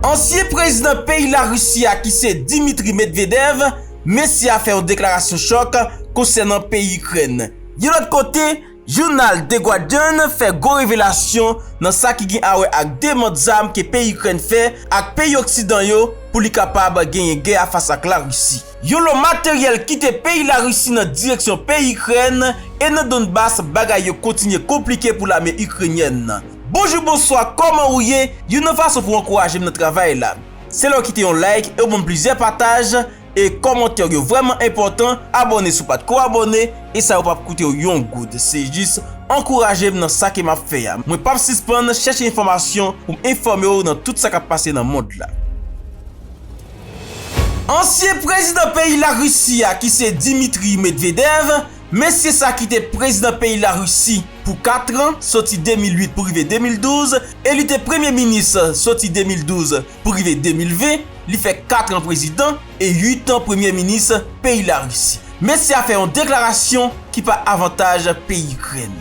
Ansyen prezidan peyi Larisi a ki se Dimitri Medvedev, mesye a fè yon deklarasyon chòk konsènan peyi Ikrèn. Yon lòt kote, jounal The Guardian fè gwo revelasyon nan sa ki gen awè ak demand zam ke peyi Ikrèn fè ak peyi oksidan yo pou li kapab genyen gè a fas ak Larisi. Yon lo materyèl kite peyi Larisi nan direksyon peyi Ikrèn e nan Donbas bagay yo kontinye konplike pou lame Ikrenyèn nan. Bonjou bonswa kòman ou ye youn nan fason pou ankouraje m nan travay la se lè w kite yon like e w ban m plizyè pataj e kòmantè w yo vrèman enpòtan abòne si w pat ko abòne e sa yo pap koute w yon goud se jis ankouraje m nan sa ke map fè a mwen pap sispann chèche enfòmasyon pou m enfòme w nan tout sa kap pase nan mond la. Ansyen prezidan peyi Larisi a ki se Dimitri Medvedev Mesye sa ki te prezidan peyi Larisi pou 4 tran, soti 2008 pou rive 2012, e li te premye minis soti 2012 pou rive 2020, li fè 4 tran prezidan e 8 tan premye minis peyi Larisi. Mesye a fè yon deklarasyon ki pa avantaj peyi Ikrèn.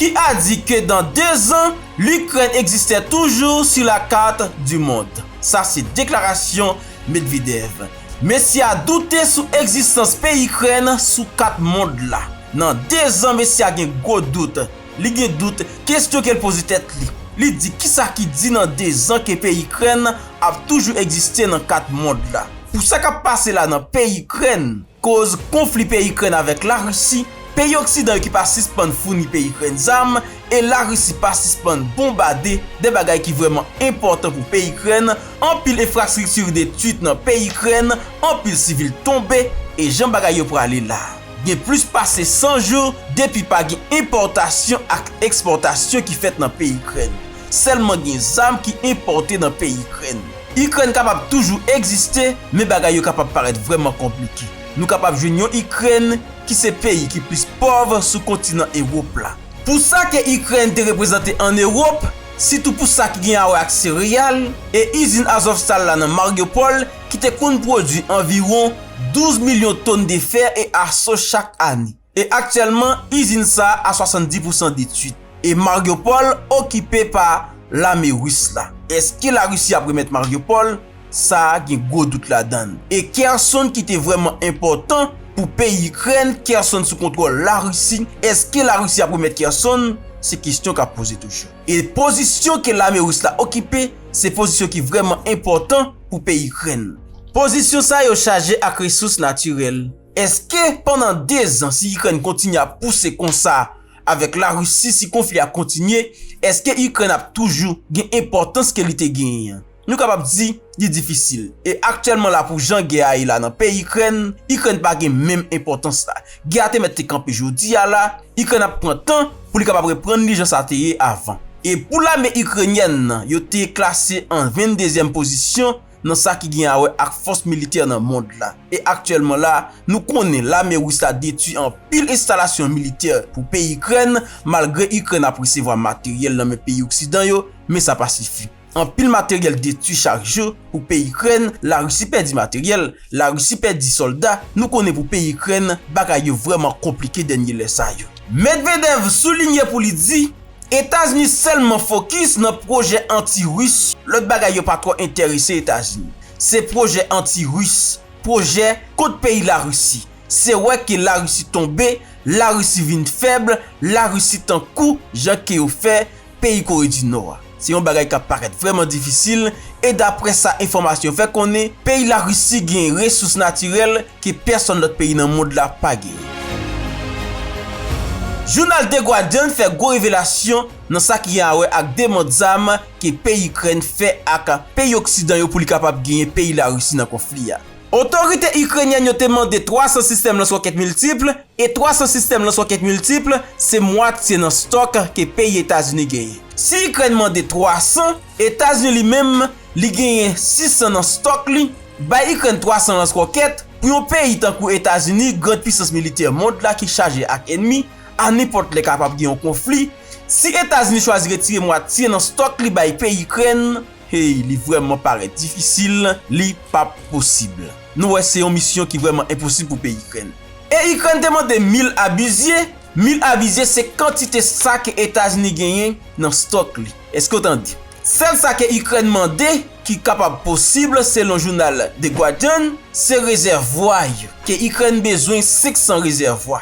Ki a di ke dan 2 zan, Likrèn egzistè toujou su la kat du mond. Sa se deklarasyon Medvedev. Mesye a doute sou egzistans peyi Ikrèn sou kat mond la. Nan 2 zan mesye a gen gwo dout. Li gen dout, kestyon ke l poze tèt li. Li di kisa ki di nan 2 zan ke peyi Ikrèn ap toujou egziste nan kat mond la. Pou sa k ap pase la nan peyi Ikrèn, koz konfli peyi Ikrèn avèk Larisi, peyi oksidan yo ki pa sispann founi peyi Ikrèn zam, e Larisi pa sispann bonbade 2 bagay ki vrèman enpòtan pou peyi Ikrèn, anpil enfrastrikti detwit nan peyi Ikrèn, anpil sivil tonbe, e jan bagay yo prale la, gen plis pase 100 jou depi pa gen enpòtasyon ak ekspòtasyon ki fèt nan peyi Ikrèn, sèlman gen zam ki enpòte nan peyi Ikrèn. Ikrèn kapab toujou egziste, men bagay yo kapab parèt vrèman konplike. Nou kapab jwenn yon Ikrèn ki se peyi ki plis pòv sou kontinan Ewop la. Pou sa ke Ikrèn te reprezante an Ewop, sitou pou sa ki gen awè ak sereyal, e izin Azovstal la nan Mariupol ki te konn pwodwi anviwon 12 milyon ton de fè e aso chak ane. E aktyèlman, izin sa a 70 pousan detwit, e Mariupol okipe pa Lame Ris la. Eske Larisi ap remèt Mariupol? sa a gen gwo dout ladan l, e Kherson ki te vrèman enpòtan pou peyi Ikrèn, Kherson sou kontwòl Larisi, èske Larisi ap remèt Kherson? Se kestyon k ap poze toujou. E pozisyon ke lame ris la okipe, se pozisyon ki vrèman enpòtan pou peyi Ikrèn. Pozisyon sa yo chaje ak resous natirèl. Èske pandan dezan si Ikrèn kontinye ap pouse konsa avèk Larisi, si konfli a kontinye, èske Ikrèn ap toujou gen enpòtans ke li te genyen an? Nou kapab di, li difisil. E aktyèlman la pou jan gè a ye la nan peyi Ikrèn, Ikrèn pa gen menm enpòtans la. Gè a te mèt te kanpe jodi a la, Ikrèn ap pran tan pou li kapab reprann li jan sa te ye avan. E pou lame Ikrenyèn nan, yo te klase an 22 zièm pozisyon nan sa ki gen a wè ak fòs militè nan mond la. E aktyèlman la, nou konnen lame Ris la detwi anpil enstalasyon militè pou peyi Ikrèn, malgre Ikrèn ap resevwa materyèl nan men peyi oksidan yo, men sa pa sifi. Anpil materyèl detwi chak jou pou peyi Ikrèn, la Risi pèdi materyèl, la Risi pèdi sòlda, nou konnen pou peyi Ikrèn bagay yo vrèman konplike dènye lè sa yo. Medvedev soulinye pou li di, Etazini sèlman fokis nan pwojè anti Ris, lòt bagay yo pa twò entèrese Etazini. Se pwojè anti Ris, pwojè kont peyi la Risi. Se wè ke la Risi tonbe, la Risi vin fèb, la Risi tankou jan ke yo fè, peyi Kore di Nò a. Se yon bagay k ap parèt vrèman difisil e daprè sa enfòmasyon fè konnen, peyi Larisi genyen resous natirèl ke pèsòn lòt peyi nan mond la pa genyen. Jounal The Guardian fè gwo revelasyon nan sa ki gen a wè ak demand zam ke peyi Ikrèn fè ak peyi oksidan yo pou li kapab genyen peyi Larisi nan konfli a. Otorite Ikrenyèn yo te mande 300 sistèm lanswokèt miltipl, e 300 sistèm lanswokèt miltipl se mwatye nan stòk ke peyi Etazini genyen. Si Ikrèn mande 300, Etazini li menm li genyen 600 nan stòk li, bay Ikrèn 300 lanswokèt, pou yon peyi tankou Etazini, grand pisans militè mond la ki chaje ak enmi, a nenpòt lè kapab gen yon konfli, si Etazini chwazi retire mwatye nan stòk li bay peyi Ikrèn, Hey li vrèman parèt difisil li pap posib nou wè se yon misyon ki vrèman enposib pou peyi ikrèn e ikrèn te mande mil abizye mil avizye se kantite sa ke etazini genyen nan stòk li eske ou tande sèl sa ke ikrèn mande ki kapab posib selon jounal the guardian se rezèvwa yo ke ikrèn bezwen 500 rezèvwa.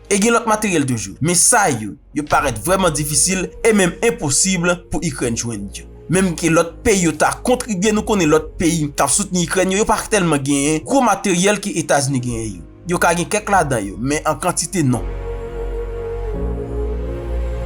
E gen lòt materyèl toujou, men sa yo, yo parèt vrèman difisil e menm enposib pou Ikrèn jwenn yo. Menm ke lòt peyi yo ta kontribye, nou konnen lòt peyi k ap soutni Ikrèn yo, yo pa tèlman genyen gwo materyèl ke Etazini genyen yo. Yo ka gen kèk ladan yo, men an kantite non.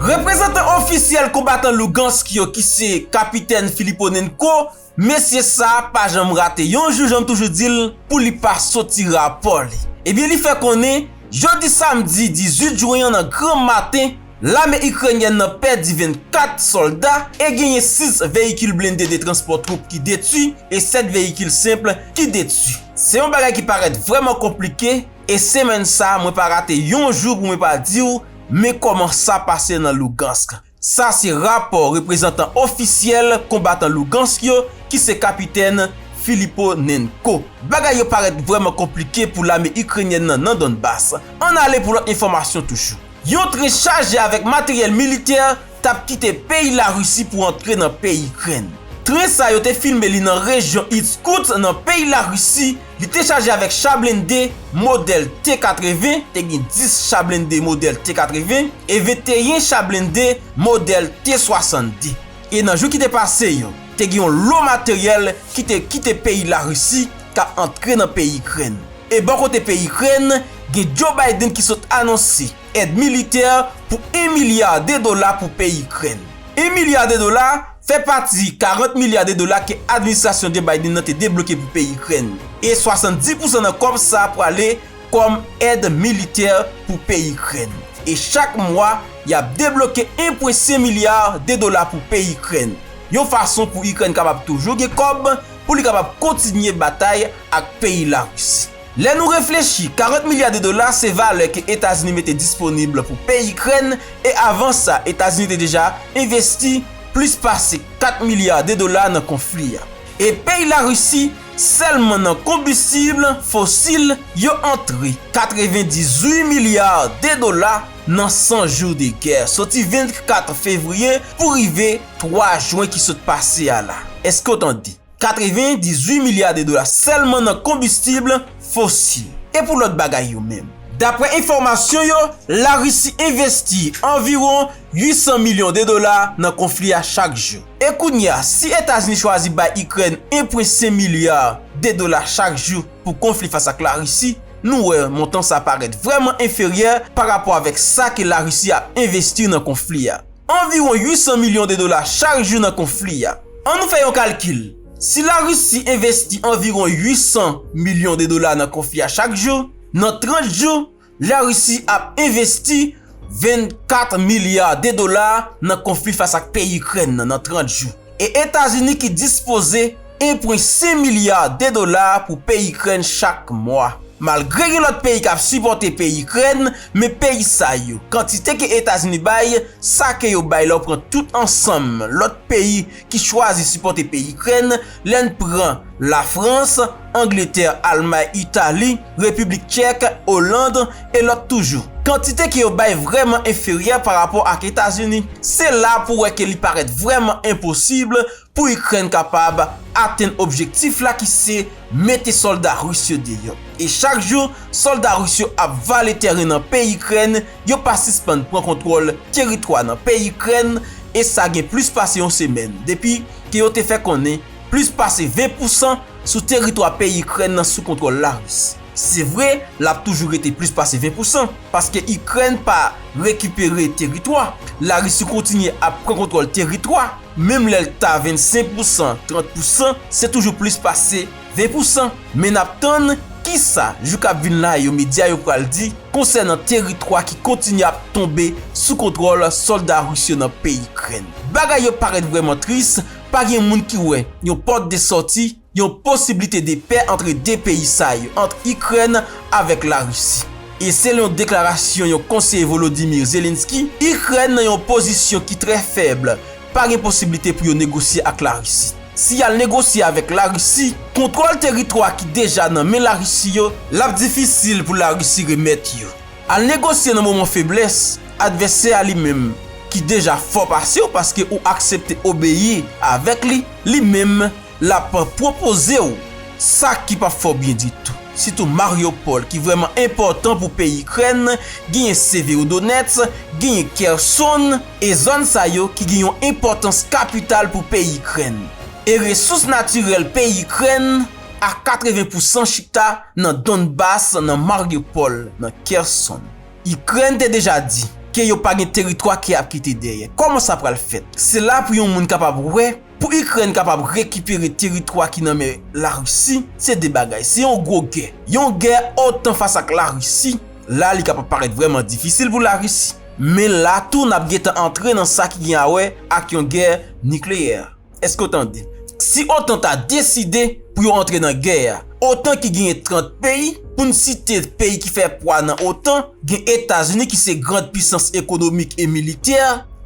Reprezantan ofisyèl konbatan Lugansk yo ki se Kapitèn Filiponenko, Mesye sa pa janm rate yon jou janm toujou di l pou li pa soti rapò li. Ebyen li fè konnen jodi samdi 18 jwen an nan gran maten lame Ikrenyèn nan pèdi 24 sòlda e genyen 6 veyikil blende de transpò twoup ki detwi e 7 veyikil senp ki detwi. Se yon bagay ki parèt vrèman konplike e semèn sa mwen pa rate yon jou pou mwen pa di w men kòman sa pase nan Lugansk. Sa se rapò reprezantan ofisyèl konbatan Lugansk yo ki se Kapitèn Filiponenko. Bagay yo parèt vrèman konplike pou lame Ikrenyèn nan nan Donbas. Ann ale pou lòt enfòmasyon toujou. Yon tren chaje avèk materyèl militè t ap kite peyi Larisi pou antre nan peyi Ikrèn. Tren sa yo te filme li nan rejyon Irskoutsk nan peyi Larisi, Li te chaje avèk cha blende modèl T-80, te gen 10 cha blende modèl T-80, e 21 cha blende modèl T-62. E nan jou ki te pase yo, te gen yon lo materyèl ki te kite peyi Larisi, k ap antre nan peyi Ikrèn. E bò kote peyi Ikrèn, gen Joe Biden ki sot anonse èd militè pou 1 milya de dola pou peyi Ikrèn. 1 milya de dola! fè pati 40 milya de dola ke administrasyon Joe Biden nan te debloke pou peyi Ikrèn, e 70 pousan nan kòb sa a prale kòm èd militè pou peyi Ikrèn. E chak mwa, y ap debloke 1,5 milya de dola pou peyi Ikrèn, yon fason pou Ikrèn kapab toujou gen kòb pou li kapab kontinye batay ak peyi Larisi. Lè nou reflechi, 40 milya de dola se valè ke Etazini mete disponib pou peyi Ikrèn e avan sa Etazini te deja envesti plis pase 4 milya de dola nan konfli a. E peyi Larisi, sèlman nan konbistib fosil, yo antre 98 milya de dola nan 100 jou de gè, soti 24 fevriye pou rive 3 jwen ki sot pase a la. Èske w tande? 98 milya de dola sèlman nan konbistib fosil. E pou lòt bagay yo menm? Daprè enfòmasyon yo, Larisi envesti anviwon 800 milyon de dola nan konfli a chak jou. E kounye a, si Etazini chwazi bay Ikrèn 1,5 milya de dola chak jou pou konfli fas ak Larisi, nou wè montan sa parèt vrèman enferyè parapò avèk sa ke Larisi ap envesti nan konfli a. anviwon 800 milyon de dola chak jou nan konfli a. An nou fè yon kalkil, si la Risi envesti anviwon 800 milyon de dola nan konfli a chak jou, nan 30 jou, la Risi ap envesti 24 milya de dola nan konfli fas ak peyi Ikrèn nan nan 30 jou. E Etazini ki dispoze 1.5 milya de dola pou peyi Ikrèn chak mwa. Malgre gen lòt peyi kap sipòte peyi Ikrèn, men peyi sa yo, kantite ke Etazini bay, sa ke yo bay lè w pran tout ansanm lòt peyi ki chwazi sipòte peyi Ikrèn, lè n pran Lafrans, Angletè, Almay, Itali, Repiblik Tchèk, Oland, e lòt toujou. Kantite ke yo bay vrèman enferyè pa rapò ak Etazini. Se la pou wè ke li parèt vrèman enposib pou Ikrèn kapab atenn objektif la ki se mete sòlda Ris yo deyò. E chak jou sòlda Ris yo ap vale tèren nan peyi Ikrèn, yo pa sispann pran kontwòl teritwa nan peyi Ikrèn, e sa gen plis pase yon semèn depi ke yo te fè konnen plis pase 20 pousan sou teritwa peyi Ikrèn nan sou kontwòl Laris. Se vre, l ap toujou rete plis pase 20 pousan, paske Ikrèn pa rekipere teritwa, Larisi kontinye ap pran kontwòl teritwa, menm lè l ta 25 pousan, 30 pousan, se toujou plis pase 20 pousan. Men n ap tann ki sa, jou k ap vin la yo, medya yo pral di konsènan teritwa ki kontinye ap tonbe sou kontwòl sòlda ris yo nan peyi Ikrèn. Bagay yo parèt vrèman tris. Pa gen moun ki wè yon pòt de sòti, yon posiblite de pè antre 2 peyi sa yo, ant Ikrèn avèk Larisi. E selon deklarasyon yon konseye Volodymyr Zelensky, Ikrèn nan yon pozisyon ki trè fèb, pa gen posiblite pou yo negosye ak Larisi. Si y al negosye avèk Larisi, kontwòl teritwa ki deja nan men Larisi yo, l ap difisil pou Larisi remèt yo. Al negosye nan moman feblès advèsè a li menm ki deja fò pasew paske ou aksepte obeyi avèk li, li menm lap pwopozew sa ki pap fèw byen ditou. Sitou Mariupol ki vrèman enpòtan pou peyi Ikrèn, genyen Severodonetsk, genyen Kherson e zòn sa yo ki gen yon enpòtans kapital pou peyi Ikrèn e resous natirèl peyi Ikrèn, a 80 pousan chita nan Donbas nan Mariupol nan Kherson. Ikrèn te deja di ke yo pa gen teritwa ke ap kite dèyè. Kòman sa pral fèt? Se la pou yon moun kapab wè, pou Ikrèn kapab rekipere teritwa ki nan men Larisi, se 2 bagay, se yon gwo gè. Yon gè otan fas ak Larisi, la li kapab parèt vrèman difisil pou Larisi. Men la tou nap gentan antre nan sa ki gen a wè ak yon gè nikleyè. Eske w tande? Si otan ta deside pou yo antre nan gè a, otan ki genyen 30 peyi, pou n site peyi ki fè pwa nan otan, gen Etazini ki se grand pisans ekonomik e militè,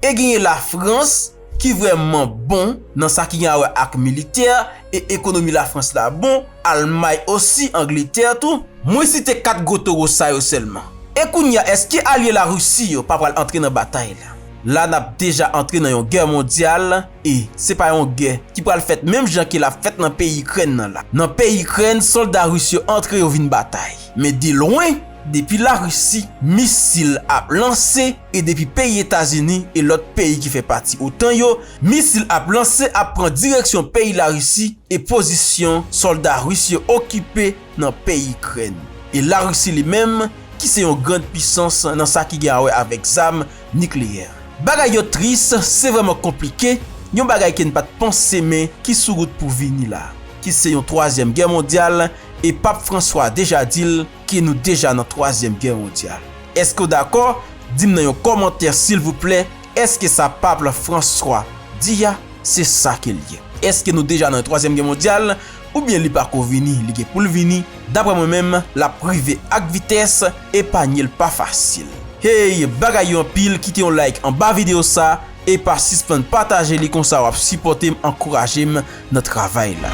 e genyen Lafrans ki vrèman bon nan sa ki gen a wè ak militè, e ekonomi Lafrans la bon, Almay osi, Angletè tou. Mwen site 4 gwo toro sa yo sèlman. E kounye a eske alye Larisi yo pa pral antre nan batay la? la nap deja antre nan yon gè mondyal e se pa yon gè ki pral fèt menm jan ke lap fèt nan peyi ikrèn nan la. Nan peyi ikrèn solda ris yo antre yo vin batay men de lwen depi la risi misil ap lanse e depi peyi etazini e lòt peyi ki fè pati otan yo misil ap lanse ap pran direksyon peyi la risi e pozisyon solda ris yo okipe nan peyi ikrèn e la risi li menm ki se yon grand pisans nan sa ki gen a wè avèk zam Nikleyè. Bagay yo tris, se vrèman konplike, yon bagay ke n pa t panse men ki sou wout pou vini la, ki se yon twazyèm gè mondyal, e Pap Franswa deja di l ke nou deja nan twazyèm gè mondyal. Eske w dakò? Di m nan yon kòmantè silvouplè, eske sa Pap Franswa di a, se sa ke l ye? Eske nou deja nan yon twazyèm gè mondyal? oubyen li pa ko vini li gen poul vini daprè mwen menm lap rive ak vitès epanyel pa fasil hey bagay yo anpil kite yon like anba video sa e pa sispann pataje li konsa wap sipòtem ankourajem nan travay la.